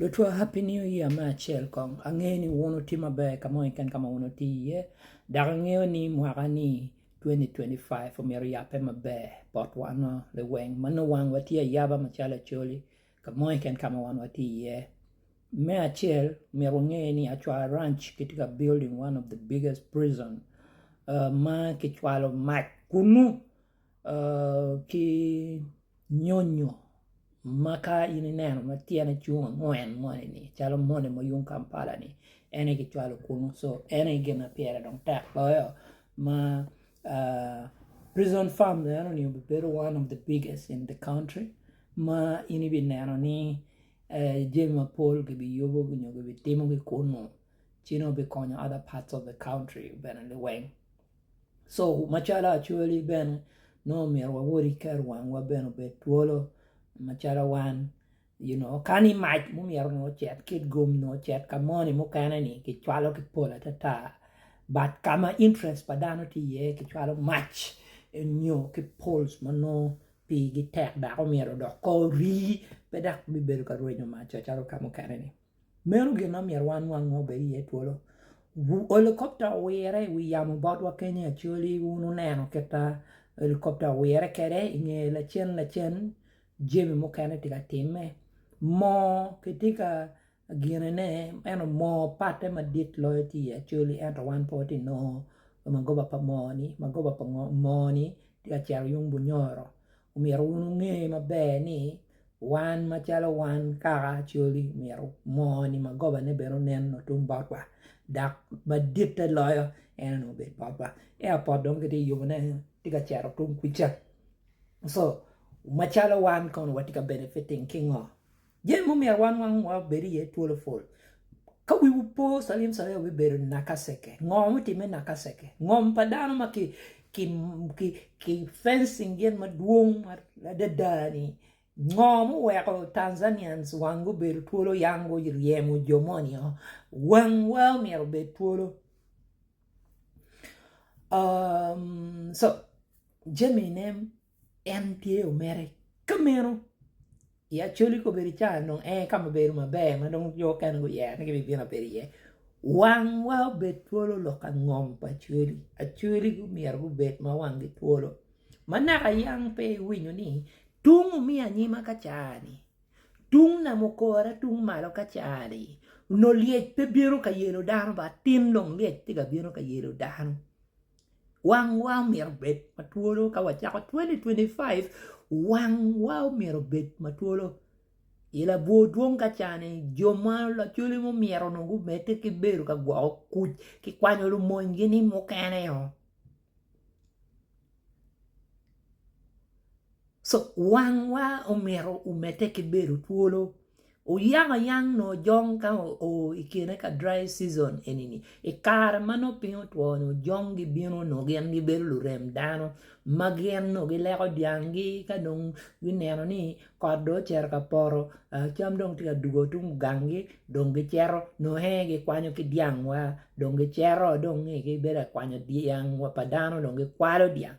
Lutwa happy new year me acel kong angeyo ni wun wutye maber kamo keken kama wun wutye i ye dok angeyo ni mwaka ni 2025 omyero oyape maber bot wan wa liweng ma nongo wang wa tye ayaba macalo acholi kamo keken kama wan watye i ye me acel myero wange ni acwar ranch kitye ka building one of the biggest prison ma kicwalo mac kunu ki nyonyo ma ka in ineno ma tyene cung angwen moni-ni calo moni ma yung Kampala-ni en aye kicwalo kunu so en aye gin ma pire dong tek loyo ma prison farm enoni obibedo one of the biggest in the country ma in ibineno ni jami mapol kibiyubo nyo kibitimogi kunu ci dong bikonyo other parts of the country bene liweng. Co macalo Acholi bene nongo omyero wawot ki keto wangwa bene obed twolo macalo wan you know ka ni mac ma omyero onongo ocit ki i gum onongo ocit ka moni mukene ni kicwalo ki pol atata but ka ma interest pa dano tye iye kicwalo mac nyo ki poles ma nongo pigi tek dok omyero odok kor rii pe dok bibedo ka rwenyo mac-ca calo ka mukene-ni. Meno gin ma myero wanwang ma obed iye twolo. Helikopta owire i wi yamo botwa kenya Acholi, wun wuneno kita helikopta owire kede i nge lacen lacen jemi mukene tye ka time. Moo kitye ka gine ne ento moo patte madit loyo tye i Acholi ento wan pe watye ka nongo magoba pa moo ni, magoba pa moo ni tye ka cito yung Bunyoro. Omyero wun wunge maber ni wan macalo wan kaka acoli omyero moo ni magoba ne bene onen otum bot wa dok maditte loyo en onongo obed bot wa ea pot dong ki tye yubo ne tye ka cito tung kuca so macalo wan kono watye ka benefiting ki ngo? Jami mumyero wan wang wa obed iye twolo pol. Ka wiwu po calim calim obibedo nakaceke. Ngo mutimme nakaceke? Ngom pa dano ma ki ki ki ki fencing gin madwong adada ni ngo muweko Tanzanians wang gubedo twolo yang guryemo jo moni o. Wang wa myero obed twolo. Um, so jami ne En tye omere ka meno i Acholi kobedi i Cana dong en aye ka ma bedo maber ma dong jo mukene guyere ni gibibino abedo iye. Wangwa obed twolo lok ka ngom pa Acholi. Acholi myero gubed ma wanggi twolo. Ma naka yam pe iwinyo ni tung omiyo anyima ka caa-ni, tung nam okora tung malo ka caa-ni, nongo lyec pe bino ka yelo dano bat tin dong lyec tye ka bino ka yelo dano. Wangwa myero obed ma twolo ka wacako 2025 wangwa myero obed ma twolo i labwor dwong ka cani jo ma lacwale mo myero onongo gumedde ki bedo ka gwoko kuc ki kwanyo lumony gi ni mukene oo. So wangwa omito omedde ki bedo twolo oyaka yang nongo ojong ka oo i kine ka dry season eni-ni i kare ma nongo piny otwo nyo ojong gibino nongo gin gibedo lurem dano ma gin nongo gileko dyanggi ka dong gineno ni kot dong ocito ka poto cam dong tye ka dugo tung gangi dong gicito nongo ee gikwanyo ki dyangwa dong gicito dong nge-gi bedo ka kwanyo dyang pa dano dong gikwalo dyang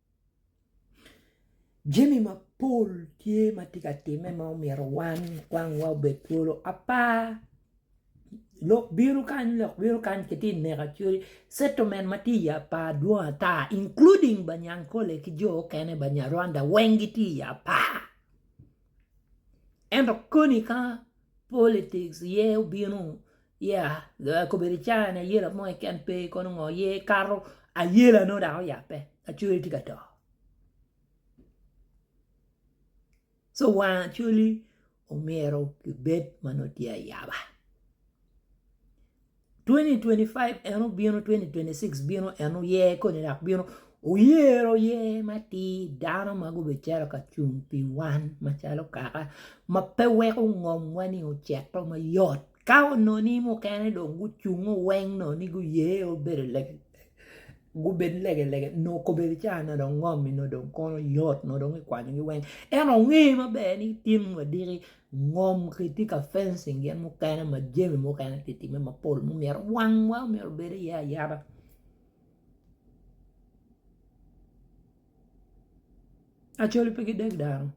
Jami mapol tye ma tye ka timme ma omyero wan kwangwa obed twolo apar lok bino kany lok bino kany kitye ka neno cwale settlement ma tye i apar dwong ata including ba nyankole ki jo mukene banyarwanda weng gitye i apar ento koni ka politics aye obino Ya, kobedi icaya ni ayela mo keken pe, kono ngo ye kato ayela nongo dok oyabbe acholi tye ka to. So wang acholi omyero kibed ma nongo tye ayaba. 2025 en obino 2026 bino en oye koni dok bino oyero ye matir dano ma gubicito ka cung pi wan macalo kaka ma pe weko ngomwa ni ocito mayot Ka onongi mukene dong gucungo weng nongo ni guye obedo gubed legelege nongo kobedi ca nongo dong ngomi nongo dong kono yot nongo dong ikwanyogi weng ento nge maber ni ityen wadiki ngom kitye ka fencing gin mukene ma jami mukene tye ka timme mapol ma omyero wangwa omyero obed iye ayaba. Acholi pe gideg dano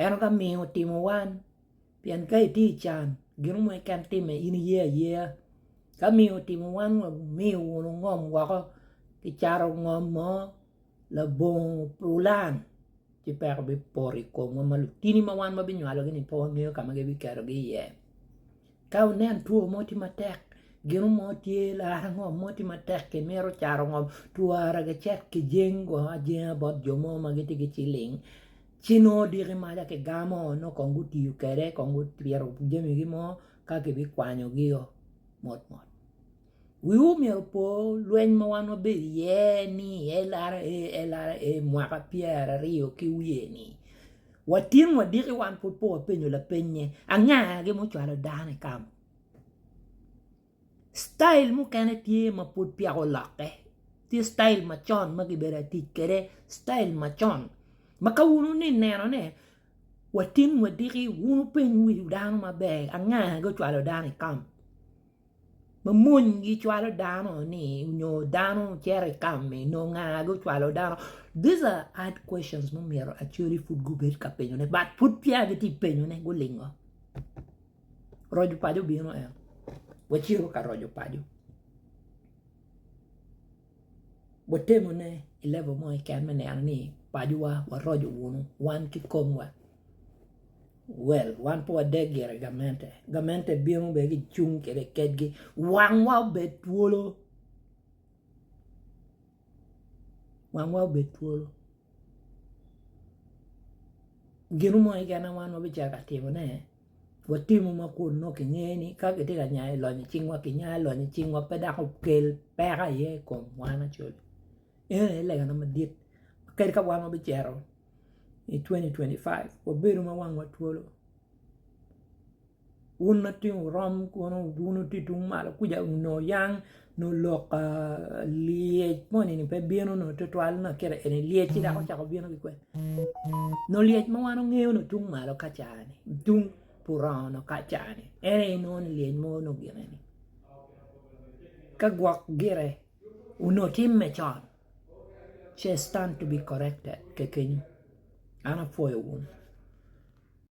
ento ka miyo otimo wan pien ka itye i can gino mo keken timme in iye ayeya ka miyo otimo wan wa miyo wun wungom woko ki cato ngom mo labongo pulan ci peko bipoto i komwa ma lutini ma wan wabinywalogi-ni pe wangeyo ka ma gibiketogi iye. Ka wunen two mo tye matek, gino mo tye larre ngom mo tye matek ki mito caro ngom twara ki cet ki jeng go ajenga bot jo mo ma gitye ki ciling ci nongo odiki maca ki gamo nongo kong gutiyo kwede kong gutwiro jamigi mo ka kibikwanyogio mot mot. Wiwu myero opo lweny ma wan wabedo iye ni LRA LRA mwaka pyeraryo ki wiye ni Watin wadiki wan pud pe wapenyo lapeny ni anga gi mucwalo dano i kamo. Style mukene tye ma pud peya olokke, tye style macon ma kibedo ka tic kwede style macon ma ka wun wuni ineno ne watin wadiki wun wupeny wi dano maber anga gi ocwalo dano i kamo. Ma mony gicwalo dano ni nyo dano cito i kami nyo nga gucwalo dano these are hard questions ma myero Acholi pud gubed ka penyone but pud peya gitye ka penyone gulingo roco paco obino en wacito ka roco paco watemone i level mo keken me neno ni pacowa waroco wunu wan ki komwa. Well, wan pe wade gire gamente. Gamente bino be gicung kede kedgi. Wangwa obed twolo. Wangwa obed twolo. Gino mo keken ma wan wabicako ka timone, watimo ma kun nongo kinge ni ka kitye ka nyayo i lonyo cingwa, kinya i lonyo cingwa pe dok okel peko aye i kom wan acel. Eno aye legane madit kadi ka wan wabicito. i 2025 wabedo ma wangwa twolo. Wun matino wurom kono wun wutye tung malo kuca nyo oyang nyo lok lyec moni ni pe bino nyo twatwal nyo kite eni lyec ci dok ocako bino ki kwede nyo lyec ma wan wangeyo nyo tung malo ka caa-ni tung purong nyo ka caa-ni en aye inongo ni lyec mo nyo gin eni ka gwok gire onyo timme con. ce stand to be corrected kekenyo an apwoyo wu.